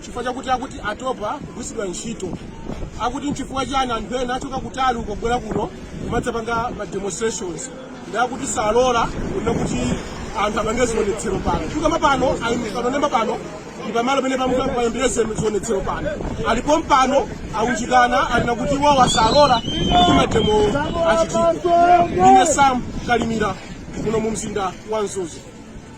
chifukwa chakuti akuti atopa kugwiritsidwa ntchito akuti nchifukwa chani anthu ena achoka kutali uko kubwera kuno kumadzapanga ma demonstrations ndi akuti salola kunena kuti anthu apange zionetsero pano chifukwa pano anenemba pano ndi pamalo pamene payambire zionetsero pano alipo mpano aunjikana alina kuti iwowa salola kuti mademo achitike ine sam kalimira muno mu mzinda wa mzuzu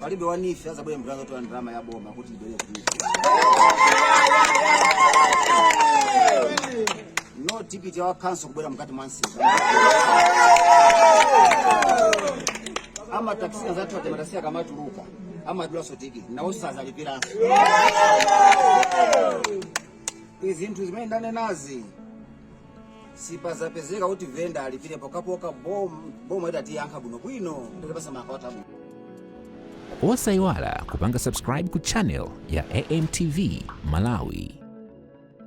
palibe wanife azabwere mbwera zotola ndalama ya boma kuti ibwere kuti no tikiti ya khanso kubwera mkati mwa msika ama taxi azathu ate mataxi akamatuluka amadulaso tikiti nawo sazalipiranso izinthu zimene ndanenazi sipazapezeka kuti venda alipire pokapoka bom- boma itatiyankha bwinobwino ndikutipatsa makalata abwino osayiwala kupanga subscribe ku channel ya amtv malawi